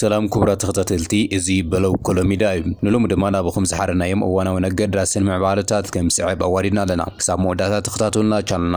ሰላም ክቡራት ተኸታተልቲ እዚ በለው ኮሎ ሚድያ እዩ። ንሎሚ ድማ ናብኹም ዝሓረናዮም እዋናውን ኣገዳስን ምዕባለታት ከም ዝስዕብ ኣዋዲድና ኣለና። ክሳብ መወዳእታ ተኸታተሉና ቻነልና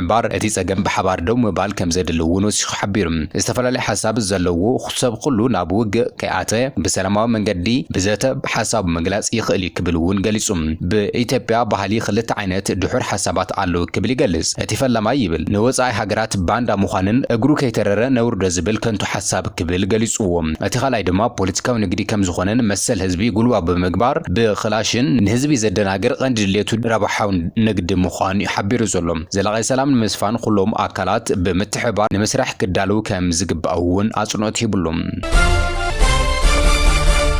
እምበኣር እቲ ጸገም ብሓባር ደው ምባል ከምዘድሊ እውን ወሲኹ ሓቢሩ። ዝተፈላለየ ሓሳብ ዘለዎ ሰብ ኹሉ ናብ ውግእ ከይኣተወ ብሰላማዊ መንገዲ ብዘተ ሓሳቡ ምግላጽ ይኽእል እዩ ክብል እውን ገሊጹ። ብኢትዮጵያ ባህሊ ክልተ ዓይነት ድሑር ሓሳባት ኣለው ክብል ይገልጽ። እቲ ፈላማይ ይብል ንወጻኢ ሃገራት ባንዳ ምዃንን እግሩ ከይተረረ ነውርዶ ዝብል ከንቱ ሓሳብ፣ ክብል ገሊጹዎ። እቲ ካልኣይ ድማ ፖለቲካዊ ንግዲ ከም ዝኾነን መሰል ህዝቢ ጉልባብ ብምግባር ብክላሽን ንህዝቢ ዘደናግር ቐንዲ ድሌቱ ረብሓዊ ንግዲ ምዃኑ'ዩ ሓቢሩ ዘሎ። ዘላቒ ሰላም ንምስፋን ኹሎም ኣካላት ብምትሕብባር ንምስራሕ ክዳለዉ ከም ዝግባእ'ውን ኣጽንኦት ሂብሉ።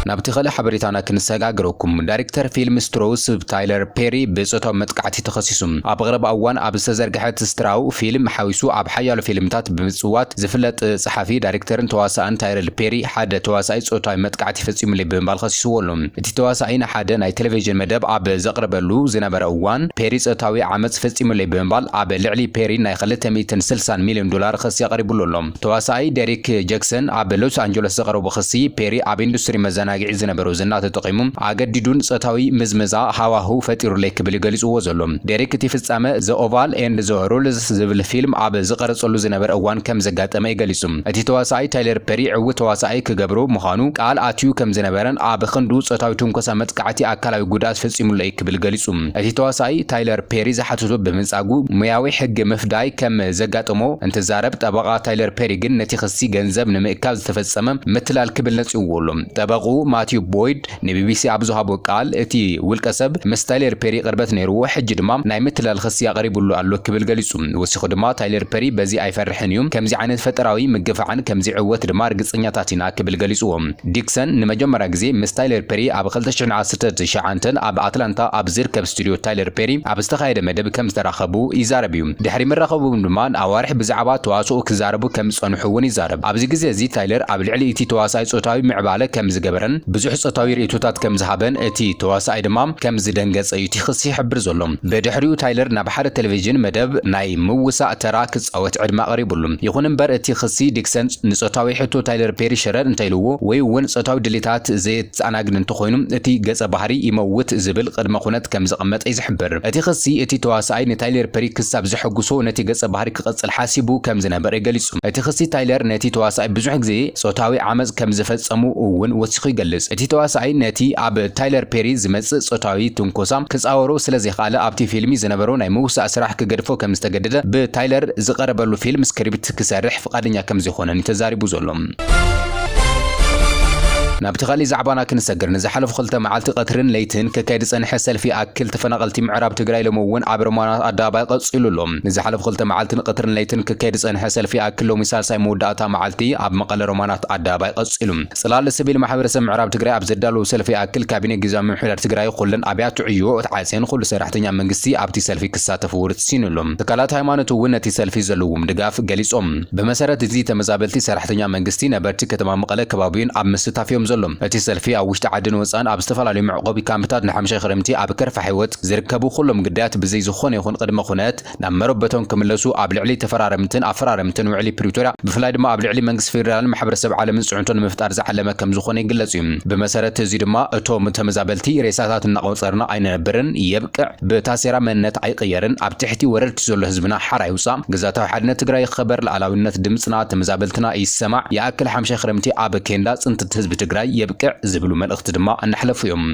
ናብቲ ኸልእ ሓበሬታና ክንሰጋግረኩም። ዳይሬክተር ፊልም ስትሮው ስብ ታይለር ፔሪ ብጾታዊ መጥቃዕቲ ተኸሲሱ። ኣብ ቐረባ እዋን ኣብ ዝተዘርግሐት ስትራው ፊልም ሓዊሱ ኣብ ሓያሎ ፊልምታት ብምጽዋት ዝፍለጥ ጸሓፊ፣ ዳይሬክተርን ተዋሳእን ታይረል ፔሪ፣ ሓደ ተዋሳኣይ ጾታዊ መጥቃዕቲ ፈጺሙለይ ብምባል ከሲስዎ ኣሎ። እቲ ተዋሳኣይ ንሓደ ናይ ተለቪዥን መደብ ኣብ ዘቕርበሉ ዝነበረ እዋን፣ ፔሪ ጾታዊ ዓመጽ ፈጺሙለይ ብምባል ኣብ ልዕሊ ፔሪ ናይ ክልተ ሚእትን ስልሳን ሚልዮን ዶላር ክሲ ኣቕሪቡሉ ኣሎ። ተዋሳኣይ ደሪክ ጀክሰን ኣብ ሎስ ኣንጀለስ ዘቕረቦ ክሲ፣ ፔሪ ኣብ ኢንዱስትሪ መዘናግዒ ዝነበሮ ዝና ተጠቒሙ ኣገዲዱን ጾታዊ ምዝመዛ ሃዋህው ፈጢሩለይ ክብል እዩ ገሊጽዎ ዘሎ። ደሪክ እቲ ፍጻመ ዘ ኦቫል ኤንድ ዘ ሩልስ፣ ዝብል ፊልም ኣብ ዝቐረጸሉ ዝነበረ እዋን ከም ዘጋጠመ'ዩ ገሊጹ። እቲ ተዋሳኣይ ታይለር ፐሪ ዕዉት ተዋሳኣይ ክገብሮ ምዃኑ ቃል ኣትዩ ከም ዝነበረን ኣብ ኽንዱ ጾታዊ ትንኮሳ መጥቃዕቲ ኣካላዊ ጉድኣት ፈጺሙለይ ክብል ገሊጹ። እቲ ተዋሳኣይ ታይለር ፐሪ ዝሓተቶ ብምንጻጉ ሞያዊ ሕጊ ምፍዳይ ከም ዘጋጠሞ እንትዛረብ ጠበቓ ታይለር ፐሪ ግን ነቲ ክሲ ገንዘብ ንምእካብ ዝተፈጸመ ምትላል ክብል ነጺግዎ ኣሎ። ጠበቕኡ ማቲው ቦይድ፣ ንቢቢሲ ኣብ ዝሃቦ ቃል፣ እቲ ውልቀሰብ ምስ ታይለር ፐሪ ቅርበት ነይርዎ፣ ሕጂ ድማ ናይ ምትላል ኽሲ ኣቕሪቡሉ ኣሎ ክብል ገሊጹ። ወሲኹ ድማ፣ ታይለር ፐሪ በዚ ኣይፈርሕን እዩ፣ ከምዚ ዓይነት ፈጠራዊ ምግፋዕን ከም ዚዕወት ድማ ርግጸኛታት ኢና ክብል ገሊጹዎ። ዲክሰን ንመጀመርያ ግዜ ምስ ታይለር ፐሪ ኣብ ክልተ ሽሕን ዓሰርተ ትሽዓንተን ኣብ ኣትላንታ ኣብ ዚርከብ ስቱድዮ ታይለር ፐሪ ኣብ ዝተኻየደ መደብ ከም ዝተራኸቡ ይዛረብ እዩ። ድሕሪ ምርኻቦም ድማ ንኣዋርሕ ብዛዕባ ተዋስኦ ኪዛረቡ ከም ዝጸንሑ እውን ይዛረብ። ኣብዚ ግዜ እዚ ታይለር ኣብ ልዕሊ እቲ ተዋሳኣይ ጾታዊ ምዕባለ ከም ዝገበረ፣ ከምዝነበረን ብዙሕ ጾታዊ ርእይቶታት ከምዝሃበን እቲ ተዋሳኣይ ድማ ከምዝደንገጸ እዩ እቲ ክሲ ይሕብር ዘሎ። ብድሕሪኡ ታይለር ናብ ሓደ ተለቪዥን መደብ ናይ ምውሳእ ተራ ክጻወት ዕድመ ቀሪቡሉ። ይኹን እምበር እቲ ክሲ ዲክሰን ንጾታዊ ሕቶ ታይለር ፔሪ ሽረር እንተኢልዎ ወይ እውን ጾታዊ ድሌታት ዘየተኣናግድ እንተኾይኑ እቲ ገጸ ባህሪ ይመውት ዝብል ቅድመ ኩነት ከምዘቐመጠ እዩ ዝሕብር። እቲ ክሲ እቲ ተዋሳኣይ ንታይለር ፐሪ ክሳብ ዘሐጉሶ ነቲ ገጸ ባህሪ ክቕጽል ሓሲቡ ከምዝነበረ ገሊጹ። እቲ ክሲ ታይለር ነቲ ተዋሳኣይ ብዙሕ ግዜ ጾታዊ ዓመጽ ከም ዝፈጸሙ እውን ወሲኹ ይገልጽ። እቲ ተዋሳኣይ ነቲ ኣብ ታይለር ፔሪ ዝመጽእ ጾታዊ ትንኮሳ ክጻወሮ ስለ ዘይኸኣለ ኣብቲ ፊልሚ ዝነበሮ ናይ ምውሳእ ስራሕ ክገድፎ ከም ዝተገደደ ብታይለር ዝቐረበሉ ፊልም ስክሪፕት ክሰርሕ ፍቓደኛ ከም ዘይኮነን እዩ ተዛሪቡ ዘሎ። ናብቲ ካሊእ ዛዕባና ክንሰግር ንዝሓለፉ ክልተ መዓልቲ ቀትርን ለይትን ክካየድ ዝጸንሐ ሰልፊ ይኣክል ተፈናቐልቲ ምዕራብ ትግራይ ሎሚ እውን ኣብ ሮማናት ኣደባባይ ቀጺሉ ኣሎ። ንዝሓለፉ ክልተ መዓልትን ቐትርን ለይትን ክካየድ ዝጸንሐ ሰልፊ ይኣክል ሎሚ ሳልሳይ መወዳእታ መዓልቲ ኣብ መቐለ ሮማናት ኣደባባይ ቐጺሉ። ጽላል ስቪል ማሕበረሰብ ምዕራብ ትግራይ ኣብ ዘዳለዎ ሰልፊ ይኣክል ካቢኔ ጊዚያዊ ምምሕዳር ትግራይ ኹለን ኣብያተ ዕዮ ተዓጽየን ኹሉ ሰራሕተኛ መንግስቲ ኣብቲ ሰልፊ ክሳተፍ ውርሲኑ ኣሎ። ትካላት ሃይማኖት እውን ነቲ ሰልፊ ዘለዎም ድጋፍ ገሊጾም። ብመሰረት እዚ ተመዛበልቲ፣ ሰራሕተኛ መንግስቲ፣ ነበርቲ ከተማ መቐለ ከባቢኡን ኣብ ምስታፍ እዮም ዘሎም። እቲ ሰልፊ ኣብ ውሽጢ ዓድን ወጻእን ኣብ ዝተፈላለዩ መዕቖቢ ካምፕታት ንሓምሻይ ኽረምቲ ኣብ ከርፋሕ ህይወት፣ ዝርከቡ ኩሎም ግዳያት ብዘይ ዝኾነ ይኹን ቅድመ ኩነት ናብ መረበቶም ክምለሱ ኣብ ልዕሊ ተፈራረምትን ኣፈራረምትን ውዕሊ ፕሪቶርያ ብፍላይ ድማ ኣብ ልዕሊ መንግስቲ ፌዴራልን ማሕበረሰብ ዓለምን ፅዕንቶ ንምፍጣር ዝዓለመ ከምዝኾነ ይግለፅ እዩ። ብመሰረት እዚ ድማ እቶም ተመዛበልቲ ሬሳታት እናቖፀርና ኣይንነብርን፣ የብቅዕ፣ ብታሴራ መንነት ኣይቕየርን፣ ኣብ ትሕቲ ወረርቲ ዘሎ ህዝብና ሓራ ይውፃእ፣ ግዛታዊ ሓድነት ትግራይ ይኸበር፣ ልኣላዊነት ድምፅና ተመዛበልትና ይሰማዕ፣ ይኣክል ሓምሻይ ክረምቲ ኣብ ኬንዳ ፅንትት ህዝቢ ትግራይ የብቅዕ ዝብሉ መልእኽቲ ድማ እናሕለፉ እዮም።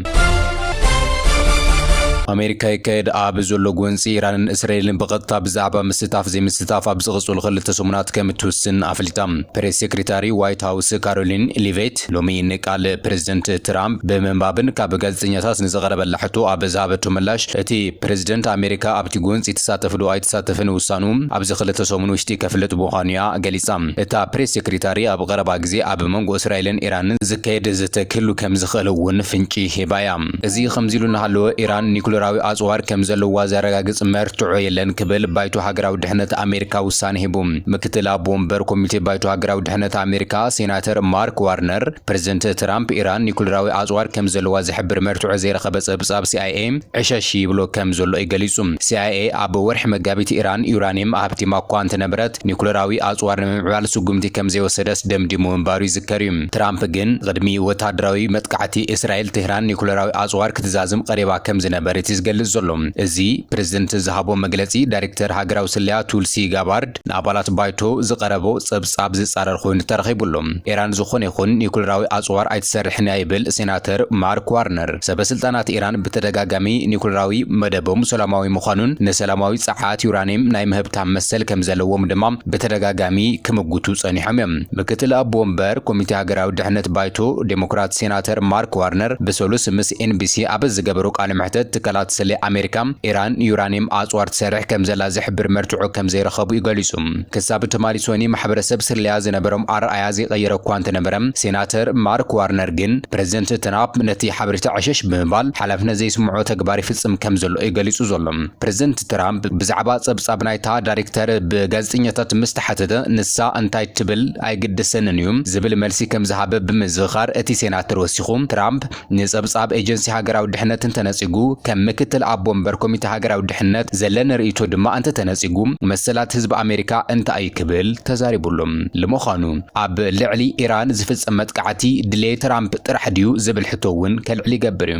ኣሜሪካ ይካየድ ኣብ ዘሎ ጎንፂ ኢራንን እስራኤልን ብቐጥታ ብዛዕባ ምስታፍ ዘይምስታፍ ኣብ ዝቕፅሉ ክልተ ሰሙናት ከም እትውስን ኣፍሊጣ። ፕሬስ ሴክሬታሪ ዋይት ሃውስ ካሮሊን ሊቬት ሎሚ ንቃል ፕረዚደንት ትራምፕ ብምንባብን ካብ ጋዜጠኛታት ንዝቐረበላ ሕቶ ኣብ ዝሃበቶ ምላሽ እቲ ፕረዚደንት ኣሜሪካ ኣብቲ ጎንፂ ትሳተፍ ዶ ኣይትሳተፍን ውሳንኡ ኣብዚ ክልተ ሰሙን ውሽጢ ከፍልጥ ምዃኑ እያ ገሊፃ። እታ ፕሬስ ሴክሬታሪ ኣብ ቐረባ ግዜ ኣብ መንጎ እስራኤልን ኢራንን ዝካየድ ዘተ ክህሉ ከም ዝኽእል እውን ፍንጪ ሂባ እያ። እዚ ከምዚሉ እናሃለወ፣ ኢራን ኒዩክለራዊ ኣጽዋር ከም ዘለዋ ዘረጋግጽ መርትዖ የለን ክብል ባይቶ ሃገራዊ ድሕነት ኣሜሪካ ውሳነ ሂቡ። ምክትል ኣቦ ወንበር ኮሚቴ ባይቶ ሃገራዊ ድሕነት ኣሜሪካ ሴናተር ማርክ ዋርነር፣ ፕረዚደንት ትራምፕ ኢራን ኒዩክለራዊ ኣጽዋር ከም ዘለዋ ዝሕብር መርትዖ ዘይረኸበ ጸብጻብ ሲኣይኤ ዕሸሽ ይብሎ ከም ዘሎ እዩ ገሊጹ። ሲኣይኤ ኣብ ወርሒ መጋቢት ኢራን ዩራንየም ኣህብቲማ እኳ እንተነበረት ኒዩክለራዊ ኣጽዋር ንምምዕባል ስጉምቲ ከም ዘይወሰደት ደምዲሙ ምንባሩ ይዝከር እዩ። ትራምፕ ግን ቕድሚ ወተሃደራዊ መጥቃዕቲ እስራኤል ቴህራን ኒኩለራዊ ኣጽዋር ክትዛዝም ቐሪባ ከም ዝነበረት እዩ ዝገልጽ ዘሎ። እዚ ፕረዚደንት ዝሃቦ መግለጺ ዳይሬክተር ሃገራዊ ስለያ ቱልሲ ጋባርድ ንኣባላት ባይቶ ዝቐረቦ ጸብጻብ ዝጻረር ኮይኑ ተረኺቡ ኣሎ። ኢራን ዝኾነ ይኹን ኒኩለራዊ ኣጽዋር ኣይትሰርሕን እያ ይብል ሴናተር ማርክ ዋርነር። ሰበስልጣናት ኢራን ብተደጋጋሚ ኒኩለራዊ መደቦም ሰላማዊ ምዃኑን ንሰላማዊ ጸዓት ዩራንየም ናይ ምህብታም መሰል ከም ዘለዎም ድማ ብተደጋጋሚ ክምጉቱ ጸኒሖም እዮም። ምክትል ኣቦ ወንበር ኮሚቴ ሃገራዊ ድሕነት ባይቶ ዴሞክራት ሴናተር ማርክ ዋርነር ብሰሉስ ምስ ኤንቢሲ ኣብ ዝገበሮ ቃለ መሕተት ትካላት ስለ ኣሜሪካ ኢራን ዩራኒየም ኣፅዋር ትሰርሕ ከምዘላ ዝሕብር መርትዖ ከምዘይረኸቡ'ዩ ገሊፁ። ክሳብ ትማሊ ሶኒ ማሕበረሰብ ስለያ ዝነበሮም ኣረኣእያ ዘይቐየረ እኳ እንተነበረ ሴናተር ማርክ ዋርነር ግን ፕረዚደንት ትራፕ ነቲ ሓበሬታ ዕሸሽ ብምባል ሓላፍነት ዘይስምዖ ተግባር ይፍፅም ከምዘሎ'ዩ ገሊፁ ዘሎ። ፕረዚደንት ትራምፕ ብዛዕባ ጸብጻብ ናይታ ዳይረክተር ብጋዜጠኛታት ምስ ተሓተተ፣ ንሳ እንታይ ትብል ኣይግድሰንን'ዩ ዝብል መልሲ ከም ዝሃበ ብምዝኽኻር እቲ ሴናተር ወሲኹ፣ ትራምፕ ንጸብጻብ ኤጀንሲ ሃገራዊ ድሕነት እንተነጺጉ፣ ከም ምክትል ኣቦ ወንበር ኮሚተ ሃገራዊ ድሕነት ዘለኒ ርእይቶ ድማ እንተተነጺጉ መሰላት ህዝቢ ኣሜሪካ እንታይ'ዩ ክብል ተዛሪቡ'ሎ። ልምዃኑ ኣብ ልዕሊ ኢራን ዝፍጸም መጥቃዕቲ ድሌት ትራምፕ ጥራሕ ድዩ ዝብል ሕቶ'ውን ከልዕል ይገብር'ዩ።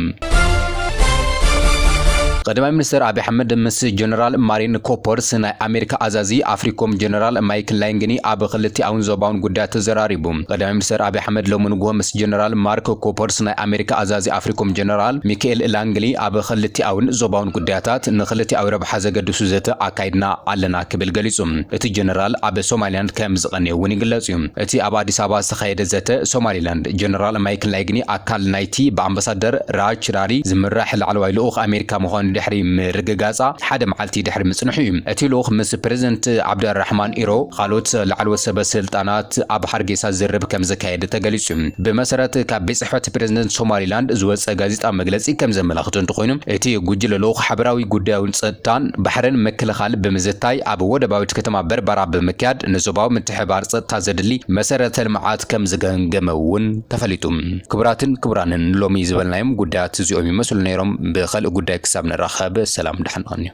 ቐዳማይ ሚኒስተር ኣቢ ኣሕመድ ምስ ጀነራል ማሪን ኮፐርስ ናይ ኣሜሪካ ኣዛዚ ኣፍሪኮም ጀነራል ማይክ ላይንግኒ ኣብ ኽልቲኣውን ዞባውን ጉዳያት ተዘራሪቡ። ቐዳማይ ሚኒስተር ኣቢ ኣሕመድ ሎሚ ንጉሆ ምስ ጀነራል ማርክ ኮፐርስ ናይ ኣሜሪካ ኣዛዚ ኣፍሪኮም ጀነራል ሚከኤል ላንግሊ ኣብ ኽልቲኣውን ዞባውን ጉዳያታት ንኽልቲኣዊ ረብሓ ዘገድሱ ዘተ ኣካይድና ኣለና ክብል ገሊጹ። እቲ ጀነራል ኣብ ሶማሊላንድ ከም ዝቐነየ'ውን ይግለጽ'ዩ። እቲ ኣብ ኣዲስ ኣበባ ዝተኻየደ ዘተ ሶማሊላንድ፣ ጀነራል ማይክ ላይግኒ ኣካል ናይቲ እቲ ብኣምባሳደር ራጅ ቺራሪ ዝምራሕ ላዕለዋይ ልኡኽ ኣሜሪካ ምዃኑ ድሕሪ ምርግጋጻ ሓደ መዓልቲ ድሕሪ ምጽንሑ እዩ። እቲ ልኡኽ ምስ ፕረዚደንት ዓብደልራሕማን ኢሮ ኻልኦት ላዕለዎት ሰበ ስልጣናት ኣብ ሃርጌሳ ዝርርብ ከም ዘካየደ ተገሊጹ። ብመሰረት ካብ ቤት ጽሕፈት ፕረዚደንት ሶማሊላንድ ዝወጸ ጋዜጣዊ መግለጺ ከም ዘመላኽቶ እንተኾይኑ እቲ ጉጅለ ልኡኽ ሓበራዊ ጉዳዩን ጸጥታን ባሕርን ምክልኻል ብምዝታይ ኣብ ወደባዊት ከተማ በርበራ ብምክያድ ንዞባዊ ምትሕብባር ጸጥታ ዘድሊ መሰረተ ልምዓት ከም ዝገምገመ እውን ተፈሊጡ። ክቡራትን ክቡራንን ሎሚ ዝበልናዮም ጉዳያት እዚኦም ይመስሉ ነይሮም። ብኸልእ ጉዳይ ክሳብ ንራኸብ ሰላም ድሓን ቐንዩ።